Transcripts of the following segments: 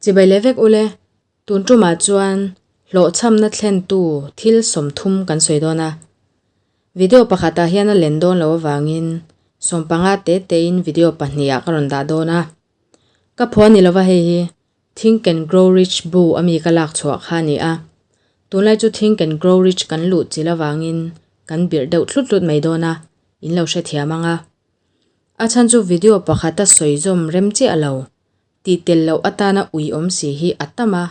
Chibai leh vek ule, tun tumah chuan hlawhchhamna thlentu thil sawmthum kan sawi dawn a. Video pakhatah hian a len dawn lo avangin sawmpanga te tein video pahnih ah ka rawn dah dawn a. Ka pho a ni lova hei hi, Think and Grow Rich bu a mi ka lak chhuah kha a ni a. Tunlai chu Think and Grow Rich kan luh chilh avangin kan birh deuh thlut thlut mai dawn a, in lo hrethiam ang a. A chhan chu video pakhata sawizawm rem chiah lo, tih tel loh atana ui awm si hi a tam a,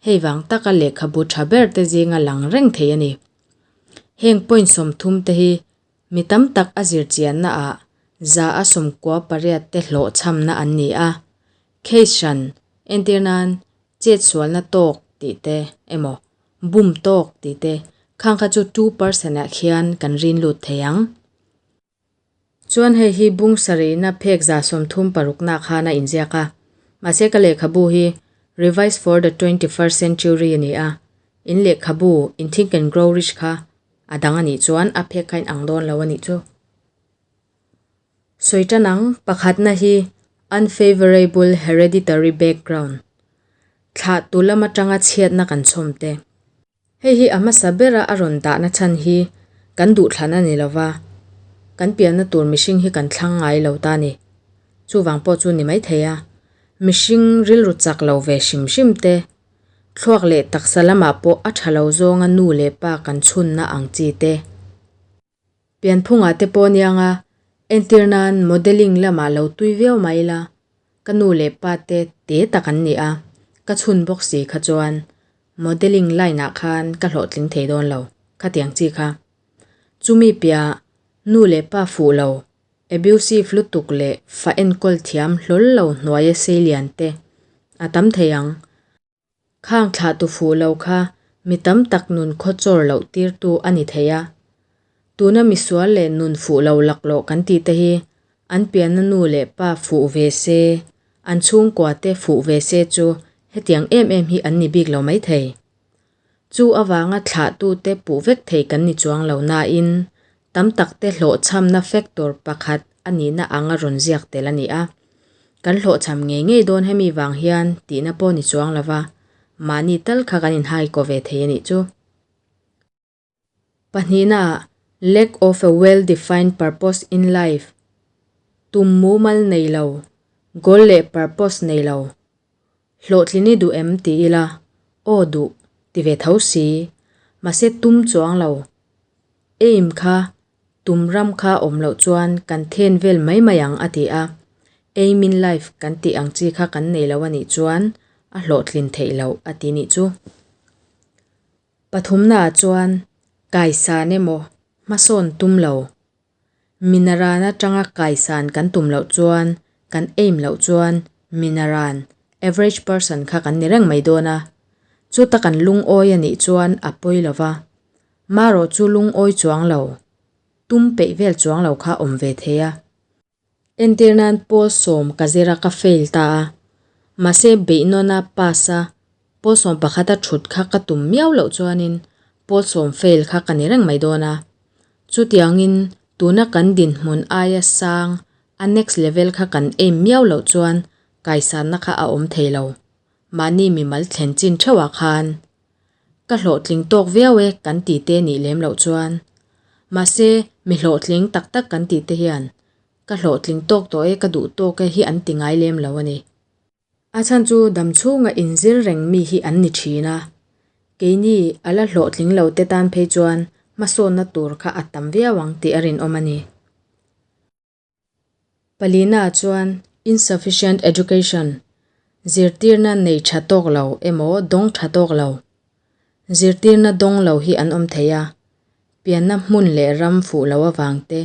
hei vang taka lehkhabu tha ber te zinga lang reng thei a ni. Heng point sawmthum te hi mi tam tak a zirchianna ah za a sawmkua pariat te hlawhchhamna an ni a, Case hran entir nan chetsualna tawk tih te emaw bum tawk tih te khang kha chu two percent ah khian kan rin lut thei ang. Chuan hei hi bung sarihna phek za sawmthum parukna khan a inziak a. Mahse ka lehkhabu hi Revise for the Twenty First Century a ni a, in lehkhabu in Think and Grow Rich kha a dang a nih chuan a phek kha in ang dawn lo a nih chu. Sawi tan ang, pakhatna hi unfavourable hereditary background, thlah tu lam atanga chhiatna kan chhawm te. Hei hi a hmasa bera a rawn dahna chhan hi kan duhthlan a ni lo va, kan pianna tur mihring hi kan thlang ngai lo ta a ni. Chuvang pawh chu ni maithei a, mihring rilru chak lo ve hrim hrim te, thluak leh taksa lamah pawh a tha lo zawnga nu leh pa kan chhunna ang chi te, Pianphungah te pawh ni anga, entir nan modelling lamah lo tui viau mah ila, ka nu leh pa te te tak an ni a, ka chhun bawk si kha chuan modelling line ah khan ka hlawhtling thei dawn lo khatiang chi kha. Chumi piah nu leh pa fuh lo, abusive lutuk leh fa enkawl thiam hlawl lo hnuaia sei lian te a tam thei ang. Khang thlah tu fuh lo kha mi tam tak nun khaw chawr loh tirtu a ni thei a. Tuna misual leh nun fuh lo lak lawh kan tih te hi an pianna nu leh pa fuh ve se, an chhungkua te fuh ve se chu hetiang em em hi an ni bik lo mai thei. Chu avanga thlahtute puh vek thei kan ni chuang lo nain tam takte hlawhchhamna factor pakhat a nihna anga rawn ziak tel a ni a. Kan hlawhchham ngei ngei dawn hemi vang hian tihna pawh ni chuang lova mahni tal kha kan inhaiko ve thei a nih chu. Pahnihna, Lack of a well defined purpose in life, Tum mumal nei lo, goal leh purpose nei lo, Hlawhtli ni duh em ti ila, aw duh ti ve tho si, mahse tum chuang lo, aim kha, tum ram kha awm loh chuan kan then vel mai mai ang a ti a, aim in life kan tih ang chi kha kan nei lo a nih chuan a hlawhtlin theih lo a ti nih chu. Pathumnaah chuan kaisan emaw hmasawn tum lo, minaran atanga kaisan kan tum loh chuan kan aim loh chuan minaran, average person, kha kan ni reng mai dawn a, chuta kan lungawi a nih chuan a pawi lo va, marawh chu lungawi chuang lo, tum peih vel chuang lo kha awm ve thei a, Entir nan Paul sawm ka zira ka fail ta a, mahse beihnawn a pass a Paul sawm pakhat a thut kha ka tum miau loh chuanin Paul sawm fail kha ka ni reng mai dawn a, chutiangin tuna kan dinhmun aia sang a next level kha kan aim miau loh chuan kaisarna kha a awm thei lo. Mahni mimal thlen chin theuhah khan ka hlawhtling tawk viau e kan ti te nih lem loh chuan. Mahse, mi hlawhtling tak tak kan ti te hian ka hlawhtling tawk tawh e, ka duh tawk e hi an ti ngai lem lo a ni. A chhan chu dam chhunga inzir reng mi hi an ni thin a, keini a la hlawhtling lo te tan phei chuan hmasawnna tur kha a tam viau ang tih a rinawm a ni. Palinaah chuan insufficient education, zirtirna nei tha tawk lo emaw dawng tha tawk lo, zirtirna dawng lo hi an awm thei a, pianna hmun leh ram fuh loh avang te,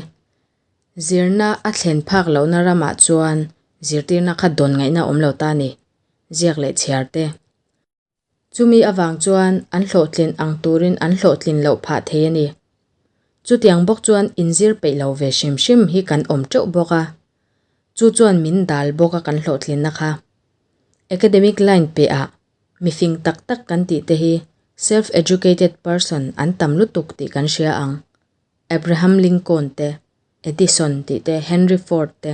zirna a thlen phak lohna ramah chuan zirtirna kha dawn ngaihna awm lo ta ni, ziak leh chhiar te. Chumi avang chuan an hlawhtlin ang turin an hlawhtlin loh phah thei a ni. Chutiang bawk chuan in zir peih lo ve hrim hrim hi kan awm teuh bawk a, chu chuan min dal bawk a kan hlawhtlinna kha. Academic line piahah mi fing tak tak kan tih te hi self educated person an tam lutuk tih kan hria ang. Abraham Lincoln te, Edison tih te, Henry Ford te.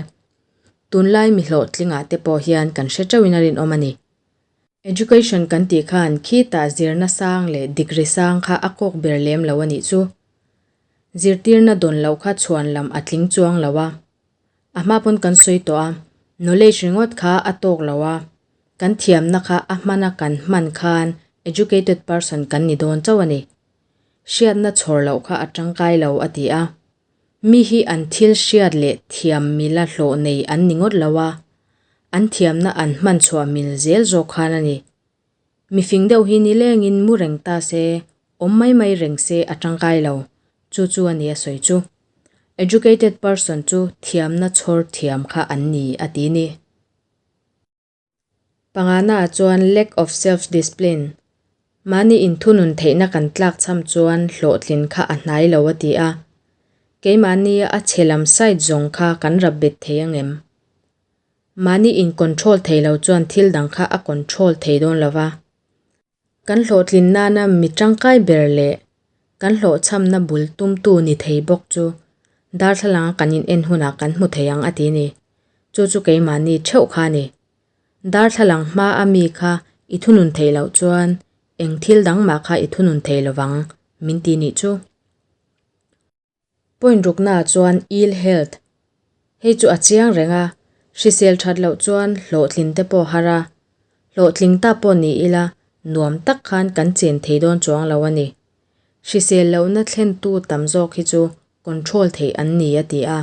Tunlai mi hlawhtlingah te pawh hian kan hre teuhin a rinawm a ni. Education kan tih khan khi tah zirna sang leh degree sang kha a kawk ber lem lo a nih chu. Zirtirna dawn loh kha chhuan lam a tling chuang lo a. A hma pawn kan sawi tawh a, knowledge ringawt kha a tawk lo a, kan thiamna kha a hmana kan hman khan educated person kan ni dawn chauh a ni. Hriatna chhawr loh kha a tangkai lo a ti a. Mi hi an thil hriat leh thiam mil a hlawh nei an ni ngawt lo a, an thiamna an hman chhuah mil zel zawk khan a ni. Mifing deuh hi nilengin mu reng ta se, awm mai mai reng se a tangkai lo, chu chu a ni a sawi chu. Educated person chu thiamna chhawr thiam kha an ni a ti ni. Pangahnaah chuan lack of self discipline, mahni inthunun theihna kan tlak chham chuan hlawhtlin kha a hnai lo a ti a, keimahni a chhe lam side zawng kha kan rap bet thei ang em? Mahni in control thei lo chuan thil dang kha a control thei dawn lo va. Kan hlawhtlin nana mi tangkai ber leh kan hlawhchhamna bul tumtu ni thei bawk chu darthlalang kan inen hunah kan hmu thei ang a ti ni. Chu chu keimahni theuh kha a ni. Darthlalang hma a mi kha i thunun theih loh chuan eng thil dang mah kha i thunun thei lovang min ti nih chu. Point ruknaah chuan ill health hei chu a chiang reng a, hrisel that loh chuan hlawhthlin te pawh har a, hlawhtling ta pawh ni ila nuam tak khan kan chin thei dawn chuang lo a ni. Hrisel lohna thlentu tam zawk hi chu control theih an ni a ti a.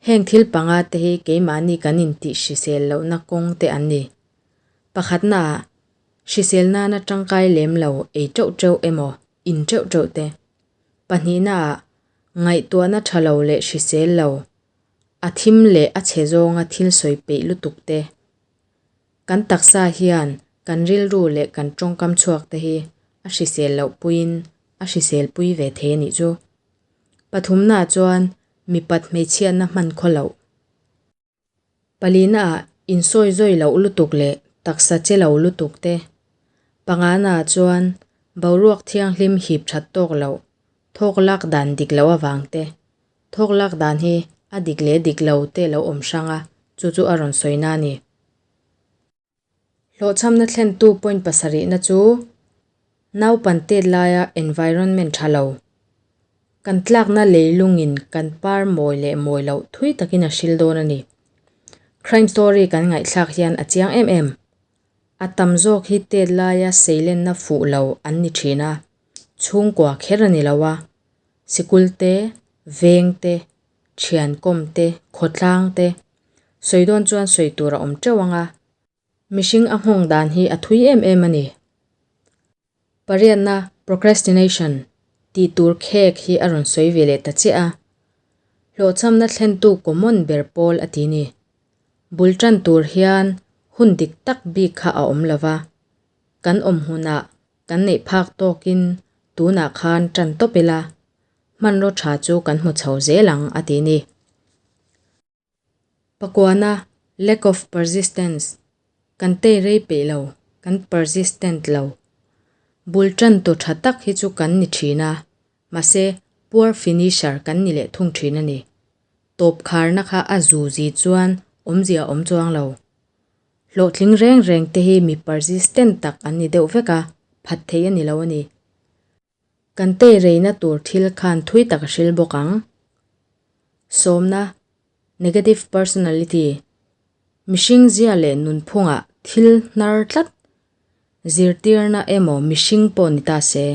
Heng thil panga te hi keimahni kan intih hrisel lohna kawng te an ni. Pakhatnaah, hrisel nana tangkai lem lo ei teuh teuh emaw in ṭeuh ṭeuh te, pahnihna ah ngaihtuahna ṭha lo leh hrisel lo, a thim leh a chhe zawnga thil sawi peih lutuk te, kan taksa hian kan rilru leh kan ṭawngkam chhuak te hi a hrisel loh puiin a hrisel pui ve thei a nih chu. Pathumna ah chuan mipat hmeichhiahna hman khaw loh Palina ah insawi zawi loh lutuk leh taksa che lo lutuk te, pangana chuan boruak thianghlim hip that tawk loh, thawk lak dan dik loh avang te, thawk lak dan hi a dik leh dik lo te lo awm hrang a, chu chu a rawn sawina a ni. Hlawhchhamna thlentu point pasarihna chu naupan tet laia environment tha lo, kan tlakna leilungin kan par mawi leh mawi loh thui takin a hril dawn a ni. Crime story kan ngaihthlak hian a chiang em em. A tam zawk hi tet laia seilenna fuh lo an ni thin a, chhungkua kher a ni lo a, sikul te, veng te, thiankawm te, khawtlang te sawi dawn chuan sawi tur a awm teuh ang a, mihring a nghawng dan hi a thui em em a ni. Pariatna, procrastination, tih tur khek hi a rawn sawi ve leh ta chiah a, hlawhchamna thlentu common ber pawl a ti ni. Bul tan tur hian hun dik tak bik kha a awm lo va, kan awm hunah Kan neih phak tawkin tunah khan tan tawp ila hmanraw tha chu kan hmu chho zel ang, a ti ni. Pakuana, lack of persistence, kan tei rei peih lo, kan persistent lo. Bul tan tu tha tak hi chu kan ni thin a, mahse poor finisher kan ni leh thung thin a ni. Tawp kharna kha a zu zi chuan awmzia awm chuang lo. Hlawhtling reng reng te hi mi persistent tak an ni deuh vek a, phat theih a ni lo a ni. Kan tei rei na tur thil khan thui tak a hril bawk ang. Sawmna, Negative personality, Mihring zia leh nunphungah thil hnar tlat, zirtirna emaw mihring pawh ni ta se,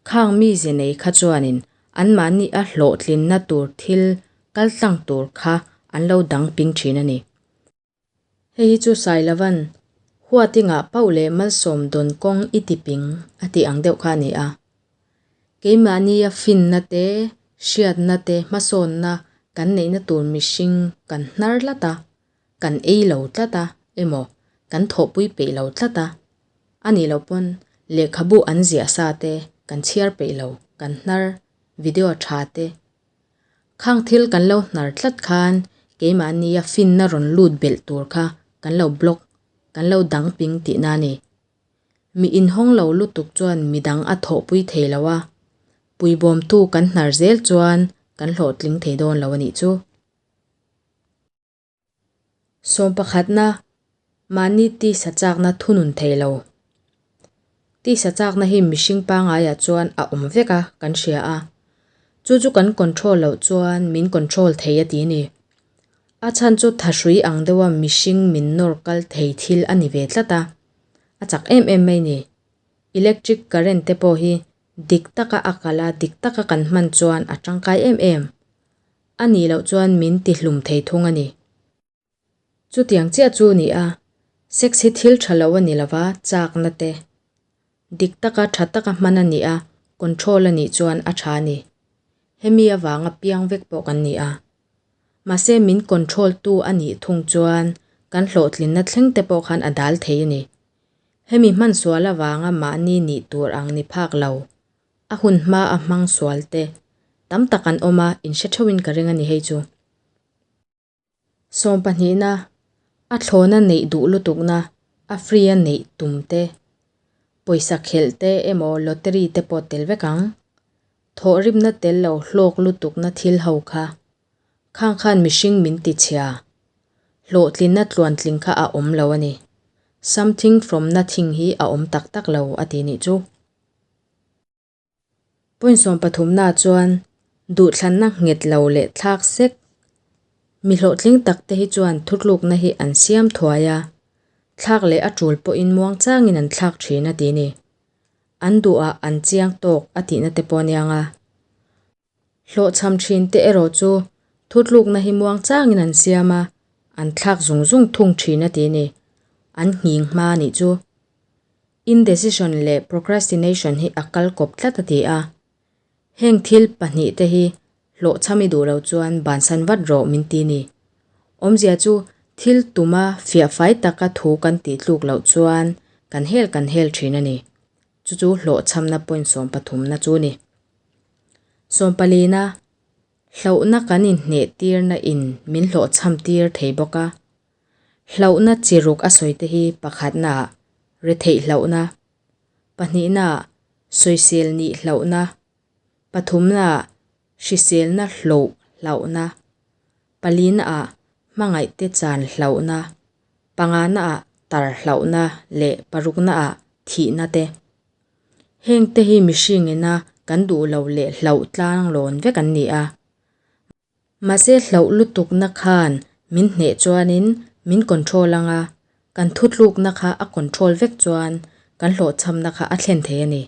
khang mi ze nei kha chuanin anmahni a hlawhtlin na tur thil kal tlang tur kha an lo dang ping thin a ni. Hei hi chu Sai Lavan, Huatingah Pau leh Malsawm dawn kawng i tiping a tih ang deuh kha a ni a. Keimahnia finna te, hriatna te, hmasawnna kan neihna tur mihring kan hnar tlat a, kan ei lo tlat a emaw kan thawhpui peih lo tlat a, a nih loh pawn lehkhabu an ziah sa te, kan chhiar peih lo, kan hnar, video a tha te, Khang thil kan lo hnar tlat khan keimahnia finna rawn lut belh tur kha kan lo block, kan lo dang ping tih na a ni. Mi inhawng lo lutuk chuan midang a thawhpui thei lo a, pui bawmtu kan hnar zel chuan kan hlawhtling thei dawn lo a nih chu. Sawm pakhatna mahni tisa chakna thunun thei lo. Tisa chakna hi mihring pangaiah chuan a awm vek a kan hria a. Chu chu kan control loh chuan min control thei a ti ni. A chhan chu tha hrui ang deuha mihring min nawr kal thei thil a ni ve tlat a. A chak em em mai ni. Electric current te pawh hi dik taka a kal a, dik taka kan hman chuan a tangkai em em. A nih loh chuan min ti hlum thei thung a ni. Chutiang chiah chu ni a, sex hi thil tha lo a ni lova chakna te dik taka tha taka hman a nia, control a nih chuan a tha a ni. Hemi avanga piang vek pawh kan ni a. Mahse min control tu a nih thung chuan kan hlawhtlinna thleng te pawh khan a dal thei a ni. Hemi hmansual avanga mahni nih tur ang ni phak lo, A hun hma a hmang sual te tam tak an awm a, in hre theuhin ka ring a ni hei chu. Sawm pahnihna, a thlawn a neih duh lutukna, a free a neih tum te, pawisa khelh te emaw lottery te pawh tel vek ang. Thawh ripna tel lo hlawk lutukna thil ho kha khang khan mihring min ti chhia, hlawhtlinna tluan tling kha a awm lo a ni. Something from nothing hi a awm tak tak lo a ti nih chu. Punsawm pathumnaah chuan duhthlanna nghet lo leh thlak sek mi hlawhtling tak te hi chuan thutlukna hi an siam thuai a, thlak leh a tul pawhin muangchangin an thlak thin a ti ni. An duhah an chiang tawk a tihna te pawh a niang a. Hlawhchham thin te erawh chu thutlukna hi muang changin an siam a, an thlak zung zung thung thin a ti ni. An nghing hma a nih chu. Indecision leh procrastination hi a kal kawp tlat a ti a. Heng thil pahnih te hi hlawhchham i duh lo chuan bansan vat rawh min ti ni. Awmzia chu thil tuma fiah fai taka thu kan tih tluk loh chuan kan hel kan hel thin a ni. Chu chu hlawhchhamna point sawm pathumna chu ni. Sawm palina, hlauhna kan inhneh tirna in min hlawhchham tir thei bawk a. Hlauhna chi ruk a sawite hi pakhatnaah retheih hlauhna, pahnihnaah sawisel nih hlauhna, pathumnaah hriselna hlawh hlauhna, palinaah hmangaihte chan hlauhna, pangahnaah tar hlauhna leh paruknaah thihna te. Heng te hi mihring ina kan duh lo leh hlauh tlang lawn vek an ni a. Mahse hlauh lutukna khan min hneh chuanin min control anga, kan thutlukna kha a control vek chuan kan hlawhchhamna kha a thlen thei a ni.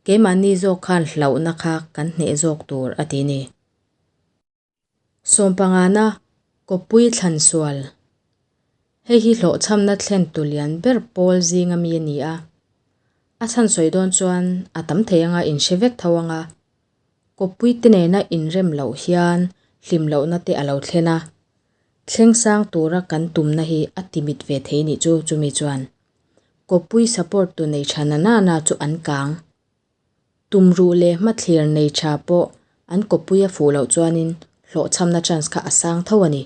Keimahni zawk khan hlauhna kha kan hneh zawk tur a ti a ni. Sawmpangana Kawpui Thlansual, Hei hi hlawhchhamna thlen tu lian ber pawl zinga mi a ni a, a chhan sawi dawn chuan a tam thei anga in hre vek tho anga Kawpui te nena in rem loh hian hlim lohna te a lo thlen a, thleng sang tura kan tumna hi a ti mit ve thei nih chu chumi chuan Kawpui support tu nei tha nana na chu an kang Tumruh leh hmathlir nei tha pawh an kawpui a fuh loh chuanin hlawhchhamna chance kha a sang tho a ni.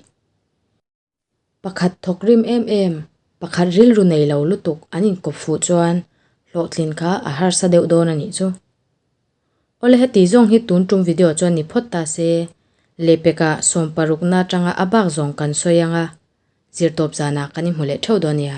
Pakhat thawk rim em em, pakhat rilru nei lo lutuk an inkawp fuh chuan hlawhtlin kha a harsa deuh dawn a nih chu. Aw le heti zawng hi tun tum video chuan ni phawt ta se, Lepeka sawm parukna atanga a bak zawng kan sawi anga zirtawp zanah kan i hmu leh theuh dawn a nia.